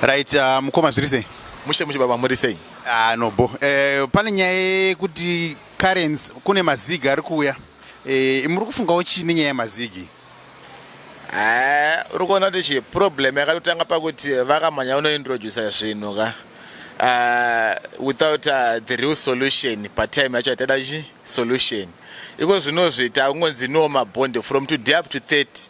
Right, uh, mukoma zviri sei? Mushe mushe baba muri sei? Ah no bo. Eh pane nyaya yekuti currents kune mazigi ari kuuya. Eh muri kufungawo chii nenyaya yemazigi? Eh uri kuona kuti chi problem yakatotanga pakuti vakamhanya unointroducer zvinhu ka. Uh, without uh, the real solution patime yacho yataida chi solution iko zvinozviita kungonzi no mabond from today up to 30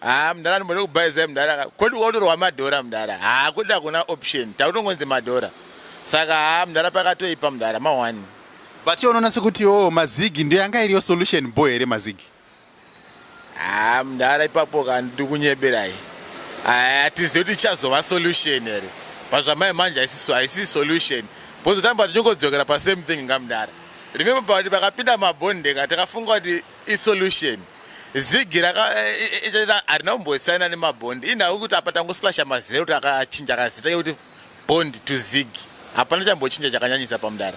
haa ah, mdara ndimboda kubhaizai mdara kodi ukatorwa madhora mdara haa ah, kodi hakuna option takutongonzi madhora saka haa ah, mdara pakatoipa mdara mawani but iye unoona sekuti o oh, mazigi ndiyo yanga iriyo solution bo here mazigi haa mdara ipapo ka ndiri kunyeberai hatizivi kuti ichazova solution here pazvamai manje haisisi solution pozotamba tichingodzokera pasame thing ngamdara remember kuti pakapinda mabondeka takafunga kuti isolution zigi harina kumbosaina nemabhondi inhau kuti apa tangoslasha mazero kuti akachinja kazita kekuti bond to zigi hapana chambochinja chakanyanyisa pamudara